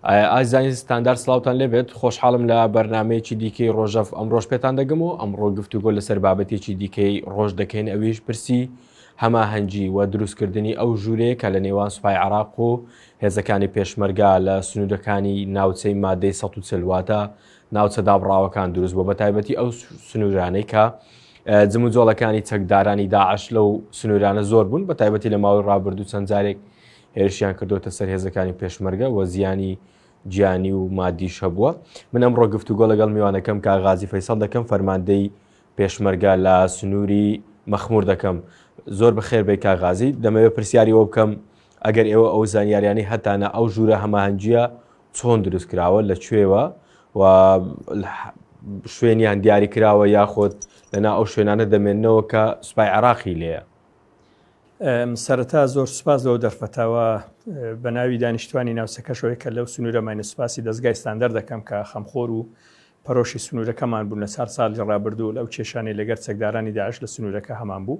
ئازانی ستاندار سلااوان لێبێت خۆشحاڵم لە بەرنمەیەکی دیکەی ڕۆژەف ئەم ڕۆژ پێتان دەگەم و ئەمڕۆ گفتوگۆ لەسەر بابەتێکی دیکەی ڕۆژ دەکەین ئەویش پرسی هەماهەنگی و دروستکردنی ئەو ژوورەیە کە لە نێوان سوپای عراق و هێزەکانی پێشمەرگە لە سنوورەکانی ناوچەی مادەی ١40 واتە ناوچە دابڕاوەکان دروست بۆ بە تایبەتی ئەو سنوورانەی کە جم و جۆڵەکانی چەکدارانی داعش لەو سنوورانە زۆر بوون بە تایبەتی لە ماوەی ڕابردوو چەند جارێک هێرشیان کردوتە سەر هێزەکانی پێشمەرگە وە زیانی گیانی و مادیش هەبووە من ئەم ڕۆگفتوگۆ لەگەڵ میوانەکەم کاغازی فەیسەڵ دەکەم فەرماندەی پێشمەرگە لە سنووری مەخمور دەکەم زۆر بەخێر بێ کاغازی دەمەوێت پرسیاری وە بکەم ئەگەر ئێوە ئەو زانیاریانەی هەتانە ئەو ژوورە هەماهەنگیە چۆن دروست کراوە لە کوێوە و شوێنیان دیاری کراوە یاخۆت لەنا ئەو شوێنانە دەمێنەوە کە سوپای عراقی لێە سەرەتا زۆر سوپاس لەو دەرفەتەوە بە ناوی دانیشتوانی ناوچەکەشەوەی کە لەو سنوورەمانە سوپاسی دەستگای ستاندەر دەکەم کە خەمخۆر و پەرۆشی سنوورەکەمان بوون لە چار ساڵی ڕابردوو لەو کێشانەی لەگەر چەکدارانی داعش لە سنوورەکە هەمان بوو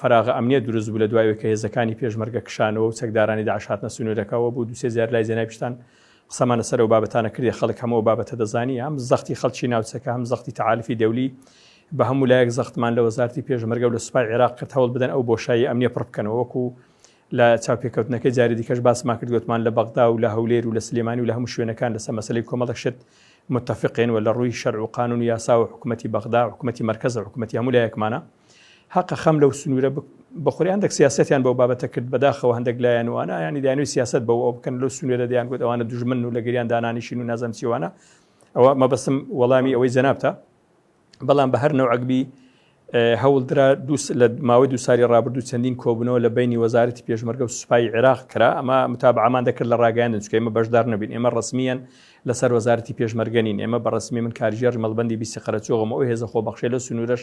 فەراغە ئەمنیە دروست بوو لە دوای ئەوەی کە هێزەکانی پێشمەرگە کشانەوە و چەکدارانی داعش هاتنە سنوورەکەوە بۆ دوو سێ جار لای جەنابی پیشتان قسەمان لەسەر ئەو بابەتانە کردی خەڵک هەموو ئەو بابەتە دەزانی هەم زەختی خەڵکی ناوچەکە هەم زەختی تەعاریفی دەولی بە هەموو لایەک زەختمان لە وەزارتی پێشمەرگە و لە سوپای عێراق کرد هەوڵ بدەن ئەو بۆشایی ئەمنیە پڕ بکەنەوە وەکو لە چاوپێکەوتنەکەی جاری دیکەش باسمان کرد گوتمان لە بەغدا و لە هەولێر و لە سلێمانی و لە هەموو شوێنەکان لەسەر مەسلەی کۆمەڵک شت متفقێن و لە ڕووی شەرع و قانون و یاسا و حکوومەتی بەغدا حکوومەتی مرکز حکوومەتی هەموو لایەکمانە هەقە خەم لەو سنوورە بخوری هەندێک سیاستیان بەو بابەتە کرد بەداخەوە هەندێک لایەن وانە ینی دانوی سیاست بەوە ئەو بکەن لەو سنوورە دیان گوت ئەوانە دژمن و لەگەریان دانانیشین و نازم چیوانە ئەوە مەبەستم وەڵامی ئەوەی جەنابتە بەڵام بە هەر نەوەگبی هەوڵدرا لە ماوەی دو ساری ڕابردوو چەندین کۆبنەوە لە بینی وەزارەتی پێشمەرگە و سوپای عێراق کرا ئەمە متابعامان دەکرد لە ڕاگەیان چکەمە بەشدار نەبین ئێمە ڕسمیەن لەسەر وەزارەتی پێشمەرگەنین ئێمە بە ڕسمی من کارژێر مەڵبندی بیسی قەرەچۆغم ئەو هێزە خۆبەخشێ لە سنوورش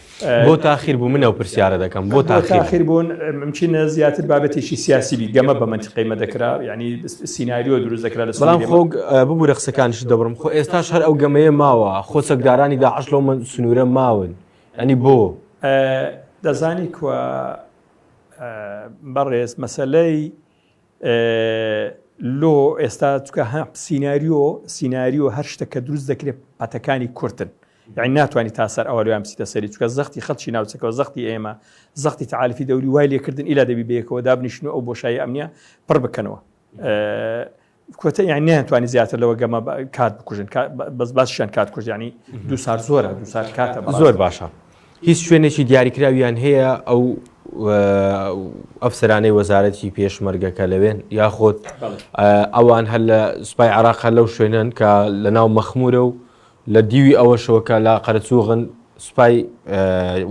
بۆ تاخیر بوو منەو پرسیارە دەکەم بۆ تاخیر بوون ممکنە زیاتر بابەتێکی سیاسی بی گەمە بە منتیقی مەدەکرا ینی سینناریۆ دروست دەکرا لە سلام خۆ ببوورە قسەکانش دەبرم خۆ ئێستاش هەر ئەو گەمەیە ماوە خۆ سەکدارانی داعش لەو من سنوورە ماون ئەنی بۆ دەزانی کوە بەڕێز مەسلەی لۆ ئێستا چکە هە سینناریۆ سینناریۆ هەر شتەکە دروست دەکرێت پاتەکانی کورتن یانی ناتوانی تا سەر ئەوە لێیان بچیتە سەری چکە زەختی خەڵکی ناوچەکەەوە زەختی ئێمە زەختی تعاالفی دەوری وای لێکردن ئیلا دەبی بەیەکەوە دابنیشن و ئەو بۆشایی ئەمنە پڕ بکەنەوە کوتە یان نیانتوانی زیاتر لەوە گەمە کات بکوژن بەس باشیان کات کوژیانی دو سار زۆرە دو سار کاتە زۆر باشە هیچ شوێنێکی دیاریکراویان هەیە ئەو ئەفسرانەی وەزارەتی پێشمەرگەکە لەوێن یاخۆت ئەوان هەر لە سوپای عراق هەر لەو شوێنن کە لە ناو مەخمورە و لە دیوی ئەوەشەوە کە لە قەرەچووغن سوپای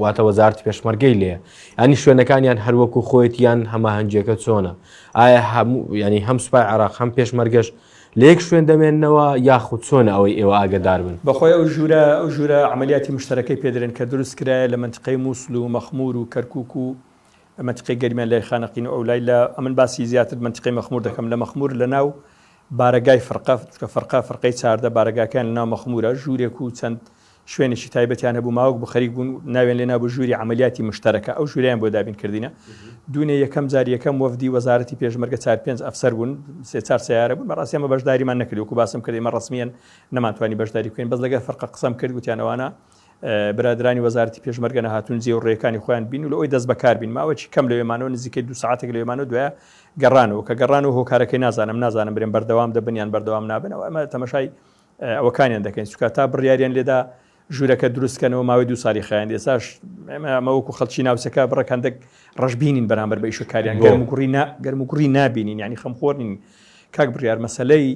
واتە وەزارتی پێشمەرگەی لێ ینی شوێنەکانیان هەروەکو خۆیت یان هەماهەنگیەکە چۆنە ئایا هەموو ینی هەم سوپای عراق هەم پێشمەرگەش لەیەک شوێن دەمێنەوە یاخود چۆنە ئەوەی ئێوە ئاگدار بن بەخۆی ئەو ژوورە ئەو ژوورە عملیاتی مشتەرەکەی پێدرێن کە دروست کرایە لە منتقەی مووسل و مەخمور و کەرکک و مەتقی گەرمیان لای خانەقین و ئەو لای لە ئەمن باسی زیاتر منتقی مەخمور دەکەم لە مەخمور لە ناو بارەگای فرقە، چونکە فرقە، فرقەی چاردە، بارەگاکەیان لە ناو مەخمورە، ژوورێک و چەند شوێنێکی تایبەتیان هەبوو، ماوەک بوو خەریک بوون ناویان لێ نابوو ژووری عەمەلیاتی مشتەرەکە، ئەو ژوورەیان بۆ دابین کردینە. دوونێ یەکەم جار یەکەم وەفدی وەزارەتی پێشمەرگە چار پێنج ئەفسەر بوون، سێ چار سەیارە بوون، بەڕاستی ئەمە بەشداریمان نەکرد، وەکوو باسم کرد ئێمە ڕەسمیەن نەمانتوانی بەشداری بکەین، بەس لەگەر فرقە قسەم کرد گوتیان ئەوانە برادەرانی وەزارەتی پێشمەرگە نەهاتوون جێ و ڕێکانی خۆیان بین و لە ئەوی دەست بەکار بین ماوەکی کەم لەوێمانەوە نزیکەی دو سعاتێک لەوێمانەوە دوایە گەڕانەوە کە گەڕانەوە هۆکارەکەی نازانم نازانم برێن بەردەوام دەبن یان بەردەوام نابنەوە ئەمە تەمەشای ئەوەکانیان دەکەین سوکە تا بڕیاریان لێدا ژوورەکە دروستکەنەوە ماوەی دو سالی خیان ئێساش ئەمەوەکو خەڵکی ناوچەکە بڕەکەندێک ڕژبینین بەرامبەر بە ئیشەکاریان گەرم گوڕی گەرم گوڕی نبینین ینی خەمخۆرنین کاک بڕیار مەسەلەی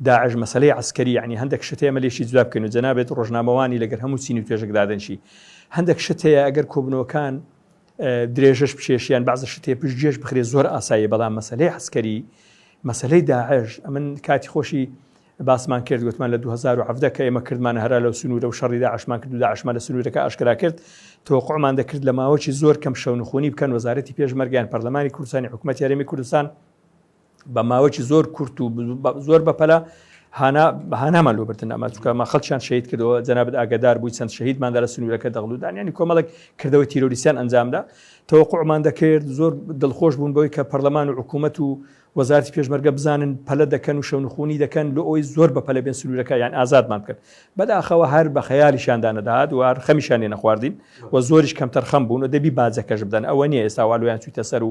داعش مەسەلەی عەسکەری یەعنی هەندەک شت هەیە ئمە لێشی جودا بکەین و جەنابت ڕۆژنامەوانی لەگەر هەموو چینی و توێژەک دادەنشی هەندەک شت هەیە ئەگەر کۆبنەوەکان درێژەش بچێشیان بەعزە شتێ پشت گێش بخرێ زۆر ئاسایی بەڵام مەسلەی حسکەری مەسلەی داعش ئەمن کاتی خۆشی باسمان کرد گوتمان لە 2010 کە ئێمە کردمان هەرا لە سنوورە و شەڕی داعشمان کرد و داعشمان لە سنوورەکە ئاشکرا کرد تۆقعمان دەکرد لە ماوەی زۆر کەم شەونخۆنی بکەن وەزارەتی پێشمەرگیان پەرلەمانی کوردستانی حکوومەت یاریمی کوردستان بە ماوەکی زۆر کورت و زۆر بەپەلا هانا هانامان لۆ بردن ئەمە چکەمە خەڵکیان شەید کردەوە جەنابەت ئاگدار بووی چەند شەهیدماندا لە سنوورەکە دەغلودان ینی کۆمەڵک کردەوەی تیرۆریسیان ئەنجامدا تەوەقعمان دەکرد زۆر دڵخۆش بوون بۆی کە پەرلەمان و حکوومەت و وەزارتی پێشمەرگە بزانن پەلە دەکەن و شەونخونی دەکەن لۆ ئەوی زۆر بە پەلە بێن سنوورەکە یان ئازادمان بکەن بەداخەوە هەر بە خەیالیشاندا نەدات و هەر خەمیشانێ نەخواردین و زۆریش کەمتەر خەم بوون و دەبی باجەکەش بدەن ئەوە نیە ئێستا والویان چویتە سەر و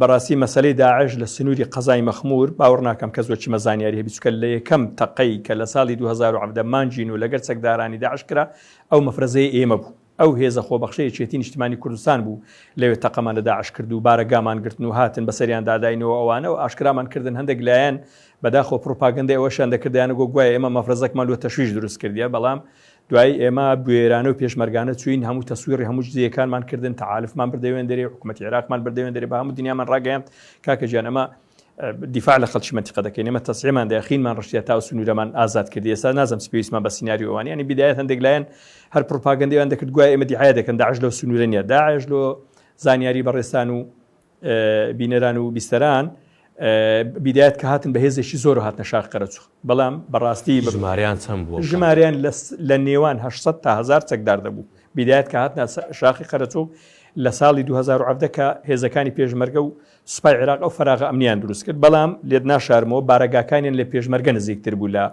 بەڕاستی مەسەلەی داعش لە سنووری قەزای مەخمور باوەڕ ناکەم کەس بۆ چیمە زانیاری هەبی چکە لە یەکەم تەقەی کە لە ساڵی 2010 مانجین و لەگەر چەکدارانی داعش کرا ئەو مەفرەزەی ئێمە بوو ئەو هێزە خۆبەخشەیە چێتی نیشتمانی کوردستان بوو لەوێ تەقەمان لە داعش کرد و بارەگامان گرتن و هاتن بەسەریان داداینەوە ئەوانە و ئاشکرامان کردن هەندێک لایەن بەداخۆ پڕوپاگەندە ئەوەشان دەکردیانە گۆ گوایە ئێمە مەفرەزەکمان لۆ تەشویش دروست کردیە بەڵام دوایی ئێمە بوێرانە و پێشمەرگانە چوین هەموو تەسویڕی هەموو جزیەکانمان کردن تەعالفمان بردەوێن دەرێ حکوومەتی عێراقمان بردەوێن دەرێ بە هەموو دنیامان ڕاگەیاند کاکە گیان ئەمە دیفاع لە خەڵکی منتیقە دەکەین ئێمە تەسعیمان دەخینمان ڕشتە تا و سنوورەمان ئازاد کرد ئێستا نازم سپیسمان بە سناریوانی ینی بدایەت هەندێک لایەن هەر پرۆپاگەندیان دەکرد گوای ئێمە دیعاە دەکەن داعش لەو سنوورە نیە داعش لۆ زانیاری بەڕێستان و بینەران و بیستەران بیدایەت کە هاتن بە هێزێکی زۆر و هاتنە شار قەرەچوخ بەڵام بەڕاستی بە ژماریان چەند بوو ژماریان لە نێوان 800 تا هزار چەکدار دەبوو بیدایەت کە هاتنە شاخی قەرەچوخ لە ساڵی 2010 کە هێزەکانی پێشمەرگە و سوپای عێراق ئەو فراغە ئەمنیان دروست کرد بەڵام لێت ناشارمەوە بارەگاکانیان لە پێشمەرگە نزیکتر بوو لە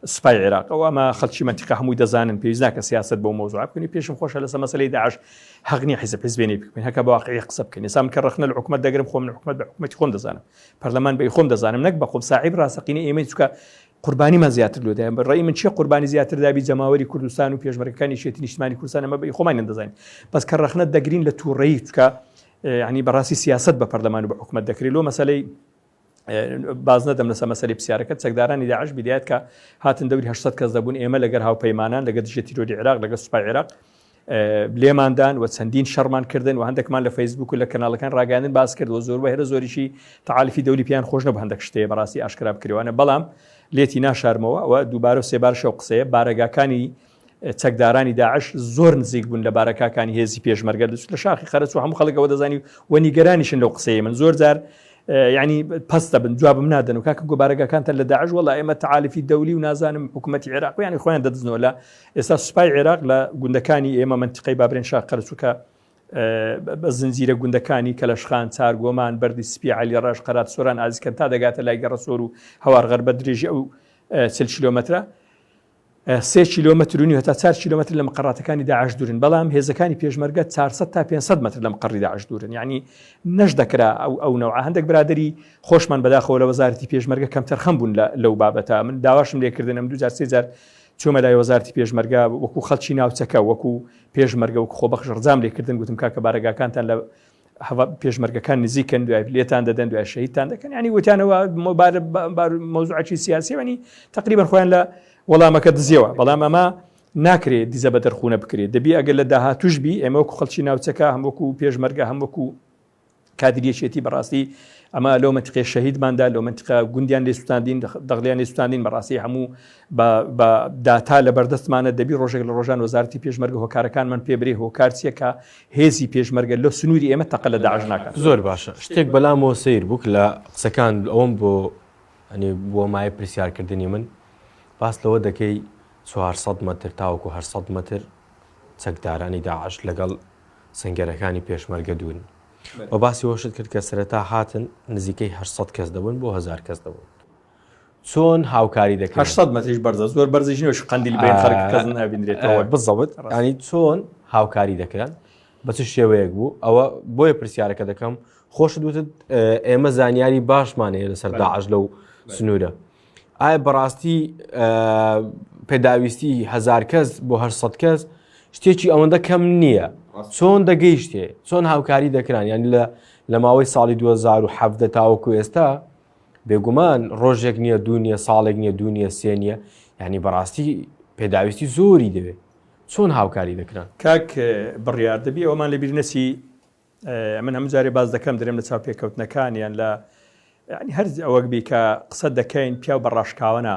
سوپای عێراق ئەو ئەمە خەلکی مەنتیقە هەمووی دەزانن پێویست ناکە سیاست بۆ مەوزوع بکەنی پێشم خۆشە لەسە مەسلەی داعش هەغنی حیزب حزبێنی بکەین هەکە باقی قسە بکەین سام کە ڕخنە لە حکومت دەگرم خۆم حکومت بە حکومەتی خۆم دەزانم پەرلەمان بە خۆم دەزانم نەک بە خۆم ساحیب ڕاستەقینە ئێمەی چکە قوربانیمان زیاتر لۆدایم بەڕێی من چی قوربانی زیاتر دابی جەماوەری کوردستان و پێشمەرەکانی شێتی نیشتمانی کوردستان ئەمە بە خۆمان دەزانین بەس کە ڕخنە دەگرین لە تووڕەیی چکە ینی بەڕاستی سیاست بە پەرلەمان و بە حکومت دەکرێت لۆ مەسلەی باز نەدەم لەسە مەسەری پرسیارەکە چەکدارانی داعش بیدایەت کە هاتن دەوری 800 کەس دەبوون ئێمە لەگەر هاوپەیمانان لەگە دژە تیرۆری عراق لەگە سوپای عێراق لێماندان و چەندین شەرمان کردن و هەندێکمان لە فەیسبوک و لە کەناڵەکان ڕاگەاندن باس کرد و زۆر بە هێرە زۆریشی تعاالفی دەولی پیان خۆش نە هەندێک شتەیە بەڕاستی ئاشکرا بکرێوانە بەڵام لێتی ناشارمەوە و دووبارە و سێبارشە و قسەیە بارەگاکانی چەکدارانی داعش زۆر نزیک بوون لە بارەکاکانی هێزی پێشمەرگە دەچوو لە شاخی خەرچ و هەموو خەڵکەوە دەزانی و نیگەرانیشن لەو قسەیە من زۆر جار ینی پستە بن جوابم نادەن و کاکە گوبارەگەکانتە لە داعش وڵ ئێمە تعاالفی دەولی و نازانم حکوومەتتی عێراق و ینی خۆیان دەدزنەوە لە ئێستا سوپای عێراق لە گوندەکانی ئێمە منتیقی بابرێن شا قەرچووکە بە زنجیرە گوندەکانی کەلەشخان چارگۆمان بەری سپی علی ڕژ قەرات سۆران ئازیکەن تا دەگاتە لای گەڕسۆر و هەوارغەر بە درێژی ئەو چل کیلومترە سێ کیلۆمەتر و نیو هەتا چوار کیلۆمەتر لە مقەڕاتەکانی داعش دوورن بەڵام هێزەکانی پێشمەرگە 400 تا 500 متر لە مقەڕی داعش دوورن یعنی نەش دەکرا ئەو ئەو نەوە هەندێک برادری خۆشمان بەداخەوە لە وەزارتی پێشمەرگە کەم تەرخەم بوون لەو بابەتە من داواشم لێکردنم دو جار سێ جار چۆمە لای وەزارتی پێشمەرگە وەکو خەڵکی ناوچەکە وەکو پێشمەرگە وەکو خۆ بەخش ڕزام لێکردن گوتم کاکە بارەگاکانتان لە پێشمەرگەکان نزیکن دوای لێتان دەدەن دوای شەیدتان دەکەن ینی وتیانەوە مەوزوعکی سیاسیوانی تقریبان خۆیان لە وەڵامەکە دزیەوە بەڵام ئەمە ناکرێت دیزە بە دەرخونە بکرێت دەبی ئەگەر لە داهاتوش بی ئێمە وەکو خەڵکی ناوچەکە هەم وەکو پێشمەرگە هەم وەکو کادریەکێتی بەڕاستی ئەمە لەو منتقێ شەهیدماندا لەو منتقە گوندیان لێ سوستاندین دەغلیان لێ سوستاندین بەڕاستی هەموو بە داتا لە بەردەستمانە دەبی ڕۆژێک لە ڕۆژان وەزارتی پێشمەرگە هۆکارەکان من پێبرێ هۆکارچیەکە هێزی پێشمەرگە لۆ سنوری ئێمە تەقە لە داعش ناکات. زۆر باشە شتێک بەلامەوە سەیر بوک لە قسەکان ئەوەم بۆ ئەنی بووە مایە پرسیارکردنی من باس لەوە دەکەی چوار سەد مەتر تاوەکو هەر سەد مەتر چەکدارانی داعش لەگەڵ سنگەرەکانی پێشمەرگە دوورن و باسی وەشت کرد کە سەرەتا هاتن نزیکەی هەر سەد کەس دەبن بۆ هزار کەس دەبن. چۆن هاوکاری دەکەن 800 مەتریش بەرزە زۆر بەرزیش نوێش قندیل بێن خەرک کەس نابینرێتەوە بزەوت ینی چۆن هاوکاری دەکران بە چ شێوەیەک بوو ئەوە بۆیە پرسیارەکە دەکەم خۆش دوتت ئێمە زانیاری باشمان هەیە لەسەر داعش لەو سنوورە ئایا بەڕاستی پێداویستی هزار کەس بۆ هەر سە کەس شتێکی ئەوەندە کەم نییە چۆن دەگەیشتێ چۆن هاوکاری دەکران یان لە لە ماوەی ساڵی 2017 تاوەکو ئێستا بێگومان ڕۆژێک نییە دوو نیە ساڵێک نیە دوو نیە سێ نیە ینی بەڕاستی پێداویستی زۆری دەوێت چۆن هاوکاری دەکران کاک بڕیار دەبی ئەومان لە بیرنەسی من هەم جارێ باز دەکەم درێم لە چاوپێکەوتنەکانیان لە هەر ئەوەک بیکە قسە دەکەین پیا بە ڕاشکاوەە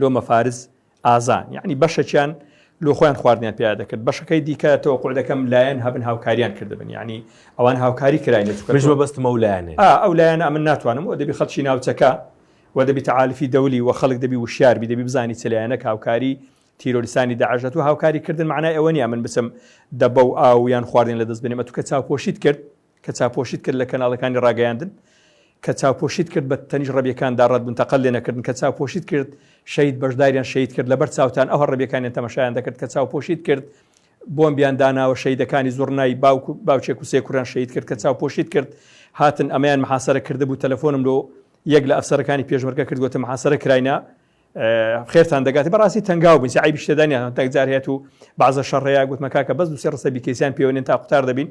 لۆ مەفارز ئازان یعنی بەشەکیان لۆ خۆیان خواردنیان پیا دەکرد بەشەکەی دیکە تۆقع دەکەم لایەن هەبن هاوکاریان کردبن یعنی ئەوان هاوکاری کراین بەستمە و لایەنێ ئەو لایەن ئەمن ناتوانم و دەبی خەڵکی ناوچەکە و دەبی تعاالفی دەولی و خەڵک دەبی وشاربی دەبی بزانی چلیانە هاوکاری تیرۆریسانی داعشەت و هاوکاری کردن معنای ئەوە نیە من بچم دەبە و ئاویان خواردن لە دەست بنێمە توکە چاوپۆشیت کرد کە چاپۆشیت کرد لە کەناڵەکانی ڕاگەیاندن، کە چاپۆشیت کرد بە تەنیشت ڕەبیەکان دا ڕەت بوون تەقە لێ نەکردن، کە چاپۆشیت کرد شەهید بەشداریان شەهید کرد لەبەر چاوتان ئەوها ڕەبیەکانیان تەمەشایان دەکرد، کە چاوپۆشیت کرد بۆمبیان داناوە شەهیدەکانی زوڕنای باوک و باوچێک و سێ کوڕیان شەهید کرد، کە چاوپۆشیت کرد هاتن ئەمەیان محاسەرە کردبوو تەلەفۆنم لۆ یەک لە ئەفسەرەکانی پێشمەرگە کرد گۆتم محاسەرە کراینە، خێرتان دەگات بەڕاستی تەنگاو بن عیبی شتدانیان تەکجار هەیە و بازە شەڕەیە گوتمە کاکە بەس دوسێ ڕسە بیکەسیان پێوەێن تا قوتار دەبین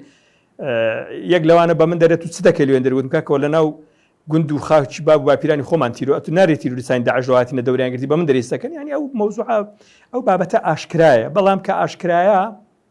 یەک لەوانە بە من دەرێت و چ دەکە لێن دەروتم کاکەەوە لە ناو گوند و خاچ باب باپیرانی خۆمان تیرو ئەتو نارێت تیرورستانی داعشهاتینە دەوریانگرتی بە من دەریستەکەن ینی ئەو مەوزوع ئەو بابەتە ئاشکرایە بەڵام کە ئاشکرایە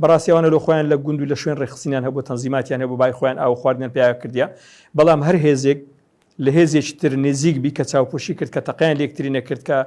بەڕاستی ئەوانە لۆ خۆیان لە گوند و لە شوێن ڕێکخستنیان هەبوو تەنزیماتیان هەبوو بای خۆیان ئاو و خواردنیان پێیا کردیە بەڵام هەر هێزێک لە هێزێکی تر نێزیک بی کە چاوپۆشی کرد کە تەقیان لێکتری نەکرد کە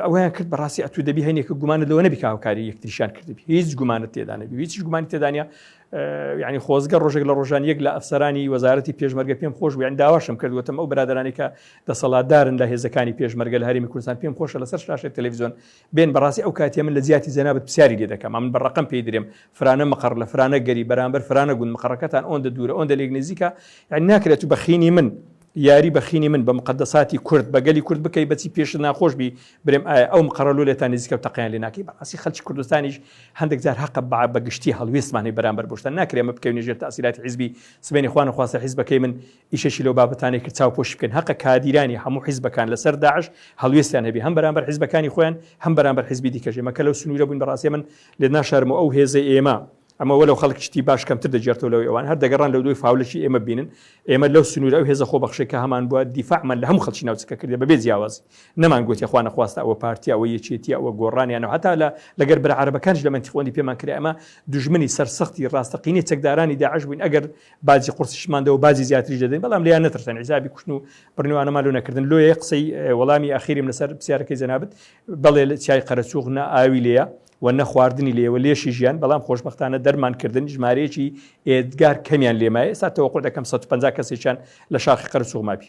ئەویان کرد بەڕاستی ئەتو دەبی هەینێکە گومانە لەوە نەبی هاوکاری یەکتریشان کردبی هیچ گومانت تێدانەبی هیچ گومانی تێدانە ینی خۆزگە ڕۆژێک لە ڕۆژان یەک لە ئەفسەرانی وەزارەتی پێشمەرگە پێم خۆش بوویان داواشم کردوەتم ئەو برادرانێکە دەسەڵاتدارن لە هێزەکانی پێشمەرگە لە هەرمی کوردستان پێم خۆشە لەسەر شاشە تەلەڤزیۆن بێن بەڕاستی ئەو کاتیە من لە جیاتی جەنابت پسیاری لێ دەکەم ئەمن بە ڕەقەم پێی درێم فرانە مقەڕ لە فرانە گەری بەرامبەر فرانە گوند مقەڕەکەتان ئۆندە دوورە ئۆندە لێک نزیکە یعنی ناکرێت تو بەخینی من یاری بەخینی من بە مقدەساتی کورد بە گەلی کورد بکەی بەچی پێشت ناخۆش بی برێم ئایا ئەو مقەڕە لۆ لێتان نزیکە و تەقیان لێ ناکەی بەڕاستی خەلکی کوردستانیش هەندێک جار هەقە بە بە گشتی هەڵوێستمانی بەرامبەر بۆشتان ناکرێمە بکەوینە ژێر تاسیراتی حیزبی سبەینی خوا نەخواستە حیزبەکەی من ئیشەکی لەو بابەتانەی کرد چاوپۆشی بکەین هەقە کادیرانی هەموو حیزبەکان لەسەر داعش هەڵوێستیان هەبێ هەم بەرامبەر حیزبەکانی خۆیان هەم بەرامبەر حیزبی دیکەش ئێمە کە لەو سنوورە بووین بەڕاستی ئەمن لێت ناشارمەوە ئەو هێزەی ئێمە ئەمە وەلەو خەڵک شتی باش کەمتر دەگێڕتەوە لەوەی ئەوان هەر دەگەڕان لەو دوای فاولەکی ئێمە ببینن ئێمە لەو سنوورە ئەو هێزە خۆبەخشەی کە هەمان بووە دیفاعمان لە هەموو خەڵکی ناوچەکە کردێ بەبێ جیاوازی نەمان گوتێ خوا نەخواستە ئەوە پارتییە ئەوە یەکێتییە ئەوە گۆڕانیانە و هەتا لە لەگەر برا عەرەبەکانیش لە مەنتیقەوەندی پێمان کرا ئەمە دوژمنی سەرسەختی ڕاستەقینەی چەکدارانی داعش بووین ئەگەر باجی قورسیشمان دەوە باجی زیاتریش دەدەین بەڵام لیان نەترسن حیزابی کوشتن و بڕنوانەمان لۆ نەکردن لۆیە قسەی وەڵامی ئاخیریم لەسەر پرسیارەکەی جەنابت بەڵێ لە چای قەرەچوغ نە ئاوی لێە و نە خواردنی لێوە لێشی ژیان بەڵام خۆشببختانە دەرمان کردن ژمارەیەکی ئێدگار کەمیان لێمایە ئێستا تەوەقع دەکەم 150 کەسێکیان لە شاخی قەرەچوغ مابی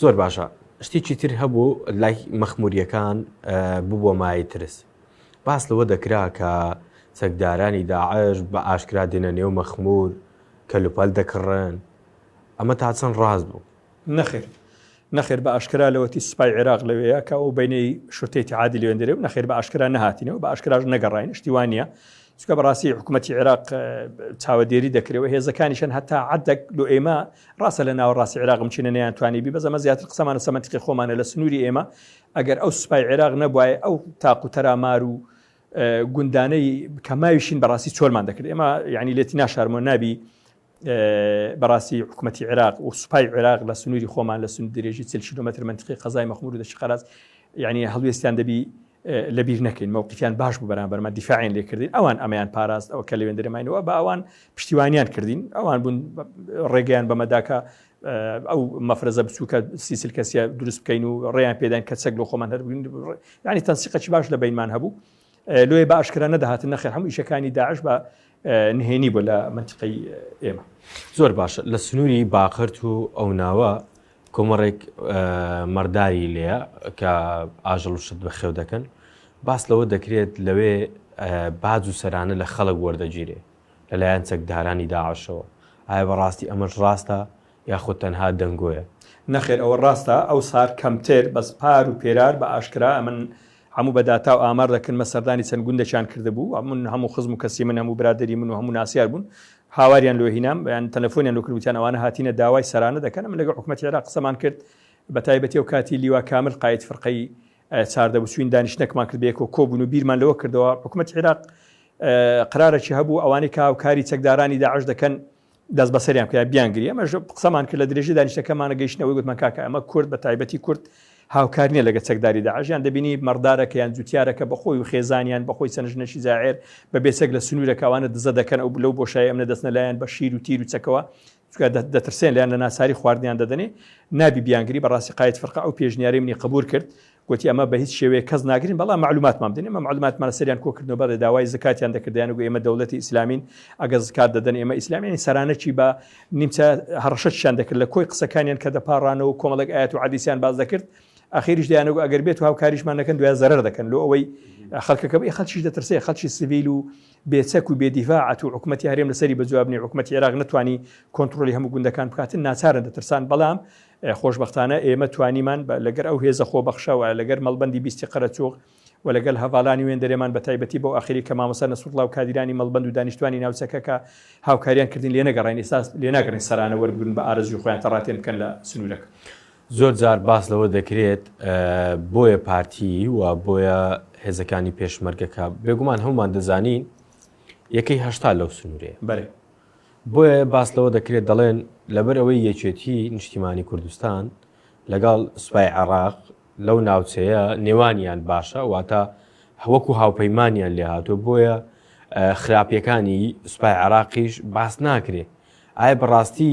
زۆر باشە شتێکی تر هەبوو لای مەخموریەکان ببووە مای ترس باس لەوە دەکرا کە چەکدارانی داعش بە ئاشکرا دێنە نێو مەخمور کە لوپەل دەکڕن ئەمە تا چەند ڕاز بوو نەخێر نەخێر بە ئاشکرا لەوەتی سپای عێراق لەوەیە کە ئەو بینەی شتێتی عادی لێندرێ و نەخێر بە ئاشکرا نهاتینەوە بە ئاشکراش نەگەڕین شتیوانە چونکە بەڕاستی حکوومەتی عێراق چاوەدێری دەکرێت و هێزەکانیشن هەتا عدەک لۆ ئێمە ڕاستە لە ناوە ڕاستی عێراق بچینە نیان توانی بی بەزەمە زیاتر قسەمانە سەمەتیقی خۆمانە لە سنووری ئێمە ئەگەر ئەو سوپای عێراق نەبواە ئەو تاق و تەرامار و گوندانەی کەماویشین بەڕاستی چۆلمان دەکرد ئێمە یعنی لێتی ناشارمۆ نابی بەڕاستی حکوومەتی عێراق و سوپای عێراق لە سنووری خۆمان لە سند درێژی چل کیلومتر منتقی قەزای مەخمور و دەشقەرات یعنی هەڵوێستیان دەبی لەبیر نەکەین مەوقیان باش بوو بەرامبەرمە دیفاعین لێکردین ئەوان ئەمیان پاراست ئەو کە لەوێن درێماینەوە بە ئەوان پشتیوانیان کردین ئەوان بوون ڕێگەیان بەمەداکە ئەو مەفرەزە بچووکە سیسل کەسیە دروست بکەین و ڕێیان پێدان کە چەک لە خۆمان هەربووین ینی تەنسیقەی باش لە بینمان هەبوو لۆیە بە ئاشکرا نەدەهاتن نەخێر هەموو ئیشەکانی داعش بە نهێنی بۆ لە منتیقی ئێمە زۆر باشە لە سنووری باقرت و ئەو ناوە کۆمەڕێک مەرداری لێە کە ئاژەڵ شت بە خێو دەکەن باس لەوە دەکرێت لەوێ باج و سەرانە لە خەڵک وەردەگیرێ لەلایەن چەکدارانی داعشەوە ئایا بەڕاستی ئەمەش ڕاستە یاخود تەنها دەنگۆیە؟ نەخێر ئەوە ڕاستە ئەو سار کەمتر بەس پار و پێرار بە ئاشکرا ئەمن هەموو بە داتا و ئامار دەکن مە سەردانی چەند گوندەکیان کردبوو ئەمن هەموو خزم و کەسی من هەموو برادەری من و هەموو ناسیار بوون هاواریان لۆ هینام یان تەلەفۆنیان لۆ کرد وتیان ئەوانە هاتینە داوای سەرانە دەکەن ئەمن لەگەڵ حکومەتی عێراق قسەمان کرد بە تایبەتی ئەو کاتی لیوا کامل قاید فرقەی چاردە بوو چوین دانیشتنەکمان کرد بەیەکەوە کۆ بوون و بیرمان لەوە کردەوە حکومەتی عێراق قرارەکی هەبوو ئەوانەی کە هاوکاری چەکدارانی داعش دەکەن دەست بەسەریان بکە بیانگری ئەمەش قسەمان کرد لە درێژی دانیشتەکەمانە گەیشتنەوەی گوتمان کاکە ئەمە کورد بە تایبەتی کورد هاوکار نییە لەگە چەکداری داعشیان دەبینی مەڕدارەکە یان جوتیارەکە بەخۆی و خێزانیان بەخۆی سەنجنەشی زاعێر بە بێچەک لە سنوورەکەوانە دزە دەکەن ئەو لەو بۆشای ئەمنە دەستنە لایەن بە شیر و تیر و چەکەوە دەترسێن لەیان لە ناساری خواردنیان دەدەنێ نابی بیانگری بەڕاستی قایت فرقە ئەو پێشنیاری منی قبول کرد گوتی ئەمە بەهیچ شێوەیەک کەس ناگرین بەڵام معلوماتمان بدەن ئێمە معلوماتمان لەسەریان کۆکردنەوە بەڵێ داوای زکاتیان دەکرد دەیان گوت ئێمە دەوڵەتی ئیسلامین ئەگەر زکات دەدەن ئێمە ئیسلامیانی سەرانەکی بە نیمچە هەڕەشەکیان دەکرد لە کۆی قسەکانیان کە دەپاڕانەوە و کۆمەڵێک ئاەت و عەدیسیان باز دەکرد ئاخیریش دەیانەگو ئەگەر بێت و هاوکاریشمان نەکەن دوای زەرەر دەکەن لۆ ئەوەی خەڵکەکە بێ خەڵکیش دەترسێ خەڵکی سڤیل و بێچەک و بێدیڤاعەت و حکوومەتی هەرێم لەسەری بەجوابنی حکوومەتی عێراق نتوانی کۆنتترۆلی هەموو گوندەکان بکاتن ناچارە دەترسان بەڵام خۆشبەختانە ئێمە توانیمان لەگەر ئەو هێزە خۆبەخشە و لەگەر مەڵبەندی بیستی قەرەچووغ و لەگەل هەڤالانی وێندەرێمان بە تایبەتی بەو ئاخیری کە مامۆستا نەسروڵڵا و کادیرانی مەڵبەند و دانیشتوانی ناوچەکە کە هاوکاریان کردین لێنەگەڕین ئێستا لێناگەڕین سەرانە وەربگرن بە ئارەزووی خۆیان تەڕاتێن بکەن لە سنوورەکە. زۆر جار باس لەوە دەکرێت بۆیە پارتی و بۆیە هێزەکانی پێشمەرگە کە بێگومان هەموومان دەزانین یەکەی هەشتا لەو سنوورەیە. بەلی. بۆیە باس لەوە دەکرێت دەڵێن لەبەر ئەوەی یەکێتیی نیشتیمانی کوردستان لەگەڵ سوپای عێراق لەو ناوچەیە نێوانیان باشە، واتە وەکو هاوپەیمانیان لێ هاتووە، بۆیە خراپییەکانی سوپای عێراقیش باس ناکرێت. ئایا بەڕاستی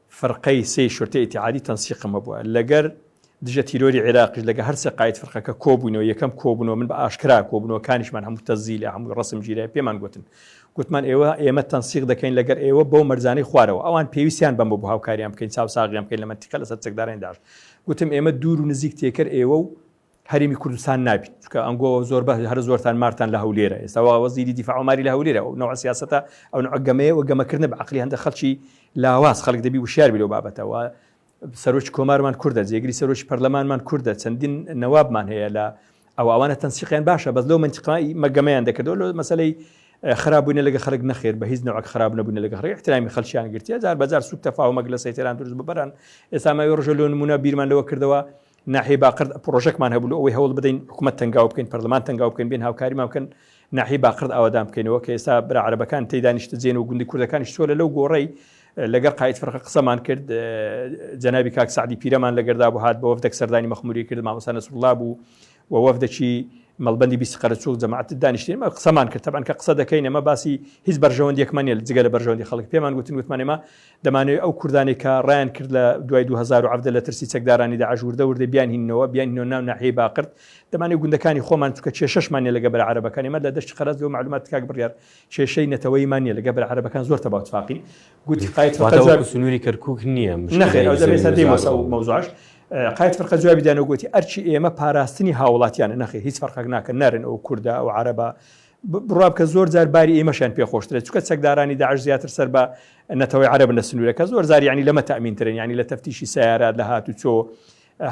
فرقەی سێی شورتەی ئیتیحادی تەنسیقم هەبووە لەگەر دژە تیرۆری عیراقیش لەگە هەر سێ قاید فرقەکە کۆبووینەوە یەکەم کۆبوونەوە من بە ئاشکرا کۆبوونەوەکانیشمان هەموو تەزیلە هەمووی ڕەسم گیرای پێمان گوتن گوتمان ئێوە ئێمە تەنسیق دەکەین لەگەر ئێوە بەو مەرزانەی خوارەوە ئەوان پێویستیان بەمە بۆ هاوکاریان بکەین چاوساغیان بکەین لە مەنتیقە لەسەر چەکدارانی داعش گوتم ئێمە دوور و نزیک تێکەر ئێوە و هەرێمی کوردستان نابیت چکە ئەنگۆ زۆر بە هەر زۆرتان مارتان لە هەولێرە ئێستاوا وەزیری دیفاعماری لە هەولێرە و نەوە سیاستە ئەو نعگەمەیە و گەمەکردە بە عقلی هەندە خەڵکی لاواز خەڵک دەبی وشار بلو بابەتەوە سەرۆکی کۆمارمان کووردە جێگری سەرۆکی پەرلەمانمان کووردە چەندین نەوابمان هەیە لە ئەو ئەوانە تەنسیقیان باشە بەس لەو منتیقایی مەگەمەیان دەکردەوە لە مەسلەی خراببووینە لەگە خەرک نەخێر بە هیچ نەوەک خراب نەبوون لەگە ڕێ احترامی خەلچیان گرتیە جار بەجار سوک تەفاومەک لە سەیتێران دروست ببران ئێستا ماوی ڕژە لۆ نمونە بیرمان لەوە کردەوە ناحیەی باقرد پڕۆژەکمان هەبوو لەوەی هەوڵ بدەین حکوومەت تەنگاو بکەین پەرلەمان تەنگاو بکەین بێن هاوکاریمان بکەن ناحی باقرد ئاوادان بکەینەوە کە ئێستا برا عربەکان تی دانیشتجێن و گوندی کوردەکانیش چۆلە لەو گۆڕی لەگەر قاید فرقە قسەمان کرد جەنابی کاک سعدی پیرەمان لەگەردا بۆ هات بۆ وەفدەک سەردانی مەخموری کرد مامۆسانە سوڵا بوو و وەفدەکی مەڵبندی بیست قەرەچوک جەماعت دانیشتین مە قسەمان کرد تەبان کە قسە دەکەین ئەمە باسی هیچ بەرژەوەندیەکمان نیە جگە لە بەرژەوەندی خەڵک پێمان گوتن گوتمانێمە دەمانەوێ ئەو کوردانەی کە ڕایان کرد لە دوای دوو هەزار و عەڤدە لە ترسی چەکدارانی داعش وردە وردە بیانهیننەوە، بیانهیننەوە ناو ناحیەی باقرت، دەمانەوێ گوندەکانی خۆمان چونکە کێشەشمان نیە لەگە بەرە عەرەبەکان، ئێمە لە دەشتی قەرەج لۆ مەعلوماتت کاک بڕیار کێشەی نەتەوەییمان نیە لەگە بەرە عەرەبەکان زۆر تەبا و تفاقین. گوتی قاید فەرقە جواب. واتە وەکو سنوری کەرکوک نیە مشکلەی زەوی نەخێر ئەوجا بێ سەر دێمەوە سەر ئەو مەوزوعەش. قاید فەرقە جوابی دانەوە گۆتی ئەرکی ئێمە پاراستنی هاوڵاتیانە نەخێر هیچ فەرقەک ناکە نارێن ئەوە کوردە ئەوە عەرەبە بڕوا بکە زۆر جار باری ئێمەشیان پێ خۆشترێت چکە چەکدارانی داعش زیاتر سەر بە نەتەوەی عربن لە سنوورەکە زۆر زاری ینی لەمە تامینترن ینی لە تەفتیشی سیارات لە هات و چۆ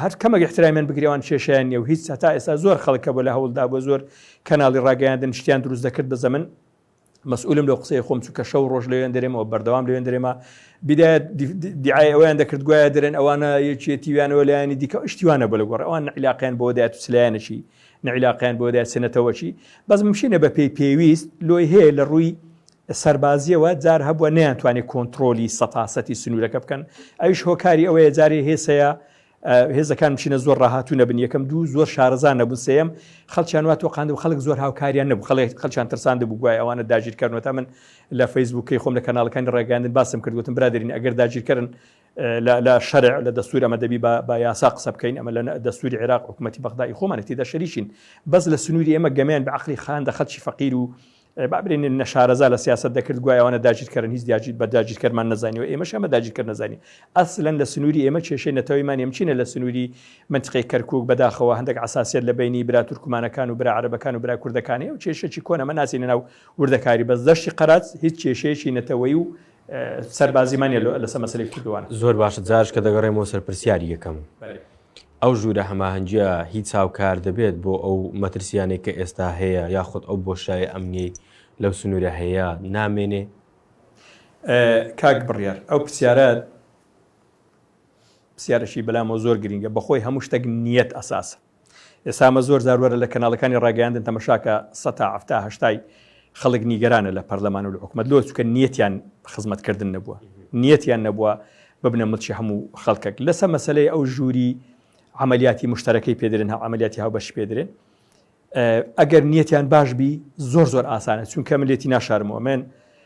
هەر کەمەگە احترامیان بگرێوان کێشیان نیە و هیچ هەتا ئێستا زۆر خەڵکە بۆ لە هەوڵدا بۆ زۆر کەناڵی ڕاگەیاندن شتیان دروست دەکرد بە زەمن مەسئولم لە قسەی خۆم چووکە شەو ڕۆژ لەوێن دەرێمەوە بەردەوام لەوێن دەرێمە بدایەت دیعای ئەویان دەکرد گوایە درێن ئەوانە یەکێتیویانەوە لایانی دیکە شتیوانە بە لە گۆڕ ئەوان عیلاقیان بۆ دایەت و سلایەنشی نەعیلاقەیان بۆ دایە سنەتەوەکی بەس ممشینە بە پێی پێویست لۆی هەیە لە ڕووی سەربازیەوە جار هەبووە نیان توانێت کۆنتترۆلی سەتاسەتی سنوورەکە بکەن ئەوش هۆکاری ئەوەیە جارێ هێسەیە هێزەکان بچینە زۆر ڕاهاتوو نەبن یەکەم دوو زۆر شارەزان نەبوو سم خەڵچیان وا تۆقاند و خەڵک زۆر هاوکاریان نەبوو خەڵێک خەڵچان ترساند بگوای ئەوانە داگیرکردنەوە تا من لە فەیسبووکەی خۆم لە کەناڵەکانی ڕێگەاندن باسم کردوتم برادرین ئەگەر داگیرکردن لە لە شەرع لە دەستور ئەمە دەبی بە بە یاسا قسە بکەین ئەمە لە دەستوری عێراق حکومەتی بەغدا ئی خۆمانی تیدا شەریکین بەس لە سنووری ئێمە گەمیان بە عقلی خان دە خەلکی فەقیر و بابرێن نەشارەزا لە سیاست دەکرد گوایوانە داگیرکەرن هیچ دیاجیت بە داگیرکەرمان نزانانی و ئێمەش ئەمە داگیرکە نزانانی ئەسلەن لە سنووری ئێمە کێشەی نەتەوەیمان ئەمچینە لە سنووری منتقی کەرکک بەداخەوە هەندێک عساسیت لە بینی برا تورکمانەکان و برا عربەکان و برا کوردەکانی و کێشەی کۆنەمە ناسینەناو وردەکاری بەس دەشتی قەرات هیچ کێشەیەکی نەتەوەی و سەربازی مانیە لەسە مەسەلەی کردوان. زۆر باشە جارش کە دەگەڕێمەوە سەر پرسیاری یەکەم ئەو ژوورە هەماهەنگیە هیچ هاوکار دەبێت بۆ ئەو مەترسیانەی کە ئێستا هەیە یاخود ئەو بۆشایە ئەمنیەی لەو سنوورە هەیە نامێنێ؟ کاک بڕیار ئەو پرسیارە پرسیارەشی بەلامەوە زۆر گرینگە بەخۆی هەموو شتێک نیەت ئەساسە ئێستا ئەمە زۆر جار وەرە لە کەناڵەکانی ڕاگەیاندن تەمەشاکە سەتا حەفتا هەشتای خەڵک نیگەرانە لە پەرلەمان و لە حکومەت لۆ چکە نیەتیان خزمەت کردن نەبووە نیەتیان نەبووە ببنە ملکی هەموو خەڵکەک لەسە مەسلەی ئەو ژووری عملیاتی مشتەرەکەی پێدرێن هە عملیاتی هاو بەش پێدرێن ئەگەر نیەتیان باش بی زۆر زۆر ئاسانە چونکە ملێتی ناشارمەوە من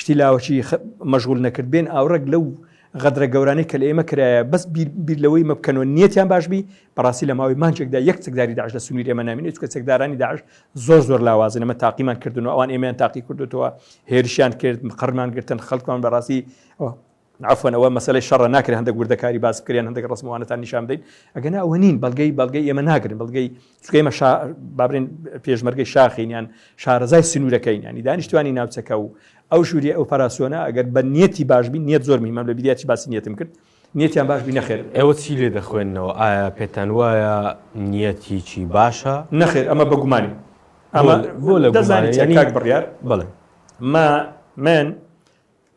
شتی لاوەکی مەژغول نەکرد بێن ئاوڕێک لەو غەدرە گەورانەی کە لە ئێمە کرایە بەس بیر لەوەی مە بکەنەوە نیەتیان باش بی بەڕاستی لە ماوەی مانچێکدا یەک چەکداری داعش لە سنووری ئێمە نامینێت چکە چەکدارانی داعش زۆر زۆر لاوازن ئەمە تاقیمان کردن و ئەوان ئێمەیان تاقی کردوتەوە هێرشیان کرد قڕمان گرتن خەڵکمان بەڕاستی عەفوەن ئەوە مەسەلەی شەڕە ناکرێت هەندەک وردەکاری باس بکەن یان هەندەک ڕەسم و وانەتان نیشان بدەین ئەگەنا ئەوە نین بەڵگەی بەڵگەی ئێمە ناگرن بەڵگەی چونکە ئێمە شا با بڵێین پێشمەرگەی شاخین یان شارەزای سنوورەکەین یانی دانیشتوانی ناوچەکە و ئەو ژووری ئۆپەراسیۆنە ئەگەر بە نیەتی باش بین نیەت زۆر میمەم لە بیریاتی باسی نیەتم کرد نیەتیان باش بی نەخێر ئێوە چی لێ دەخوێنەوە ئایا پێتان وایە نیەت هیچی باشە نەخێر ئەمە بە گومانی ئەمە بۆ لە دەزانانی چاک بڕیار بڵێ ما من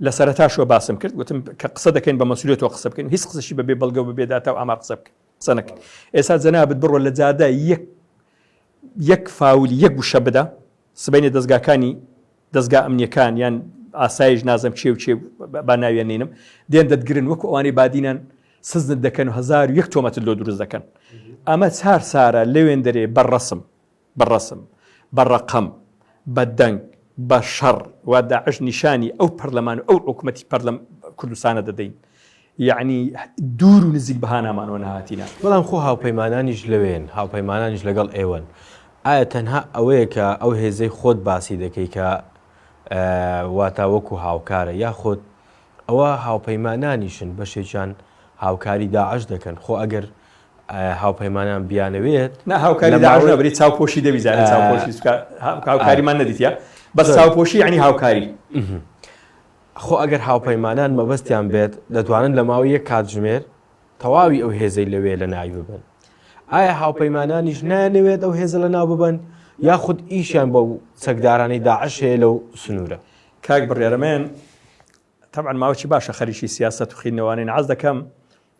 لە سەرەتاشەوە باسم کرد گوتم کە قسە دەکەین بە مەسولیەتەوە قسە بکەین هیچ قسەشی بە بێ بەڵگە و بە بێ داتا و ئامار قسە بکە قسە نەکەین ئێستا جەنابت بڕۆ لە جادە یەک یەک فاولی یەک وشە بدە سبینێ دەستگاکانی دەستگا ئەمنیەکان یان ئاسایش نازم چێ و چێ با ناویان نینم دێن دەتگرن وەکو ئەوانەی بادینان سزنت دەکەن و هزار و یەک تۆمەتت لۆ دروست دەکەن ئەمە چار سارە لەوێن دەرێ بەڕسم بە ڕەسم، بە ڕەقەم، بە دەنگ، بە شەڕ و داعش نیشانی ئەو پەرلەمان و ئەو حکومەتی پەرلەم کوردستانە دەدەین. یەعنی دوور و نزیک بە هانامانەوە نەهاتینە. بەڵام خۆ هاوپەیمانانیش لەوێن، هاوپەیمانانیش لەگەڵ ئێوەن. ئایا تەنها ئەوەیە کە ئەو هێزەی خۆت باسی دەکەی کە واتە وەکو هاوکارە یاخود ئەوە هاوپەیمانانیشن بەشێکیان هاوکاری داعش دەکەن؟ خۆ ئەگەر هاوپەیمانان بیانەوێت نا هاوکاری داعش نا بری چاوپۆشی دەبی زانێ چاوپۆشی چکا هاوکاریمان نەدیتە بەس چاوپۆشی یعنی هاوکاری خۆ ئەگەر هاوپەیمانان مەبەستیان بێت دەتوانن لە ماوەی یەک کاتژمێر تەواوی ئەو هێزەی لەوێ لە ناوی ببن ئایا هاوپەیمانانیش نانەوێت ئەو هێزە لە ناو ببن یاخود ئیشیان بەو چەکدارانی داعش هەیە لەو سنوورە کاک بڕێرەمێن تەبعەن ماوەکی باشە خەریکی سیاسەت و خیرنەوانین عەز دەکەم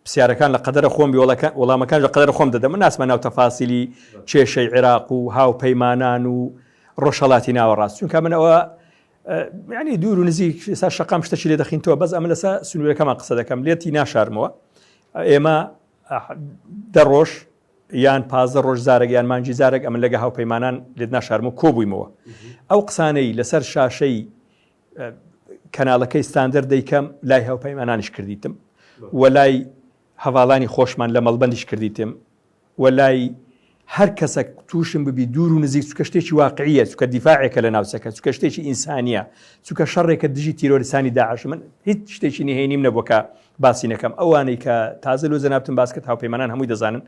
پسیارەکان لە قەدەرە خۆم بی وەڵەکە وەڵامەکان لە قەدەرە خۆم دەدەم من ناسمە ناو تەفاسیلی کێشەی عێراق و هاوپەیمانان و ڕۆژهەڵاتی ناوەڕاست چونکە من ئەوە ینی دوور و نزیک سا شقام شتەکی لێ دەخین تۆ بەس ئەمە لەسا سنوورەکەمان قسە دەکەم لێتی ناشارمەوە ئێمە دە ڕۆژ یان پازدە ڕۆژ زارێک یان مانجی زارێک ئەمن لەگە هاوپەیمانان لێت ناشارمە کۆبوویمەوە ئەو قسانەی لەسەر شاشەی کەناڵەکەی ستاندەر دەیکەم لای هاوپەیمانانیش کردیتم و لای هەواڵانی خۆشمان لە مەڵبندیش کردیتم و لای هەر کەسە تووشم ببی دوور و نزیک چکە شتێکی واقعیە چکە دیفاعێکە لە ناوچەکە چکە شتێکی ئینسانیە چکە شەڕێکە دژی تیرۆریسانی داعش من هیچ شتێکی نهێنیم نەبووکە باسی نەکەم ئەوانەی کە تازە لۆ جەنابتم باسکرد هاوپەیمانان هەمووی دەزانن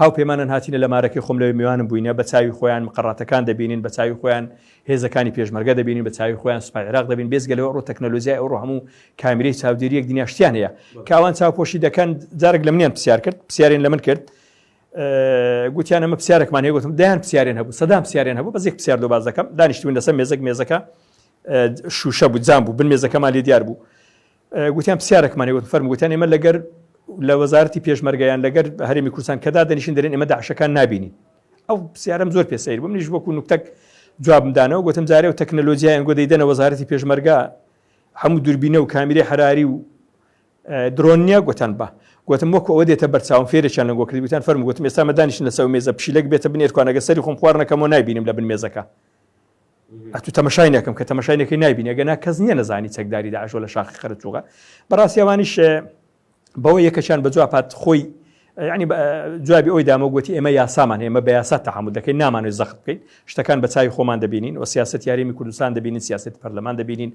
هاوپەیمانان هاتیینە لە مارەکەی خۆم لەوێ میوانم بووینە بە چاوی خۆیان مقڕاتەکان دەبینین بە چاوی خۆیان هێزەکانی پێشمەرگە دەبینین بە چاوی خۆیان سوپای عێراق دەبین بێجگە لەوە ئەڕۆ تەکنەلۆژیای ئەوڕۆ هەموو کامیرەی چاودێریەک دنیا شتیان هەیە کاوان چاوپۆشی دەکەن جارێک لە منیان پرسیار کرد پرسیارین لە من کرد گوتیان ئەمە پرسیارێکمان هەیە گوتم دایان پرسیارێن هەبوو سەدام پرسیارێن هەبوو بەزێک پرسیار دو باز دەکەم دانیشتوین لەسەر مێزەک مێزەکە شوشە بوو جام بوو بن مێزەکەمان لێ دیار بوو گوتیان پسیارەکمانی وت فەرمو گوتیان ئێمە لەگەر لە وەزارەتی پێشمەرگە یان لەگەر هەرێمی کوردستان کە دادەنیشن دەرێن ئێمە داعشەکان نابینین ئەو پسیارم زۆر پێ سەیر بوو منیش وەکو نوکتەک جوابم دانەوە گوتم جارێ و تەکنەلۆژیای ئەنگۆ دەیدەنە وەزارەتی پێشمەرگە هەموو دوربینە و کامیری حراری و درۆن نییە گوتان بە گوتم وەکو ئەوە دێتە بەرچاوم فێرێکیان لە گۆکردی گوتان فەرم گوتم ئێستا مەدانیشن لەسەر مێزە پشیلەک بێتە بنێرکوانەگە سەری خۆم خوارنەکەمەوە نبینم لە بن مێزەکە ئەتو تەمەشای نەکەم کە تەمەشای نەکەی نایبینە گەنا کەس نییە نەزانی چەکداری داعشۆ لە شاخی خەرچوغە بەڕاستی ئەوانیش بەوە یەکەشان بە جوابات خۆی ینی جوابی ئەوی دامە گوتی ئێمە یاسامان ئێمە بە یاسا تەحمل دەکەین نامانێت زەخت بکەین شتەکان بە چای خۆمان دەبینین و سیاست یاریمی کوردستان دەبینین سیاست پەرلەمان دەبینین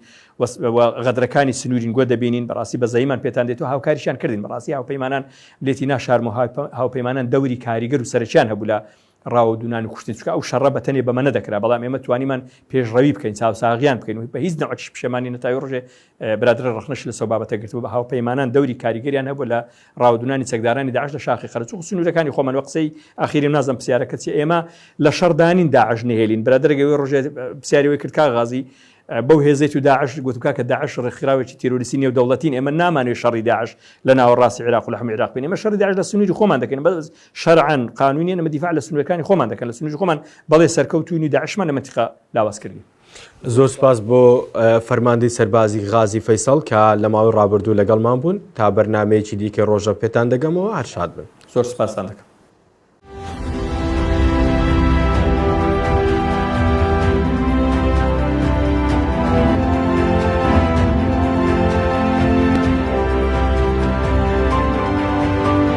غەدرەکانی سنوورین گوە دەبینین بەڕاستی بە زەیمان پێتان دێت و هاوکاریشان کردین بەڕاستی هاوپەیمانان لێتی ناشارم و هاوپەیمانان دەوری کاریگەر و سەرچیان هەبوو لە ڕاوەدوونان و کوشتن چکە ئەو شەڕە بە تەنێ بەمە نەدەکرا بەڵام ئێمە توانیمان پێشڕەوی بکەین چاوساغیان بکەین و بە هیچ نەوەکیش پشێمانی نەتاوی ڕژێ برادرە ڕخنەش لە سەو بابەتە گرتو بە هاوپەیمانان دەوری کاریگەریان هەبوو لە ڕاودونانی چەکدارانی داعش لە شاخی قەرچوق سنوورەکانی خۆمان وە قسەی ئاخیری نازم پرسیارە کەچی ئێمە لە شەڕدانین داعش نهێلین برادرەگەوێ ڕژێ پرسیاریەوەی کرد کا غازی بەو هێزێت و داعش گوتکا کە داعش ڕێکخراوێکی تیرۆریسی نێو دەوڵەتین ئێمە نامانێت شەڕی داعش لە ناوەڕاستی عراق لە حمی عراق بین ئمە شەر داعش لە سنووری خۆمان دەکەین بەس شەرعەن قانونیان ئەمە دیفاع لە سنوورەکانی خۆمان دەکەن لە سنووری خۆمان بەڵێ سەرکەوتوین و داعشمان لە منتیقا لاواز کردین. زۆر سپاس بۆ فەرماندەی سەربازی غازی فەیسەڵ کە لە ماوەی ڕابردوو لەگەڵمان بوون تا بەرنمەیەکی دیکە ڕۆژە پێتان دەگەمەوە هەرشاد بن زۆر سپاسان دەکەم.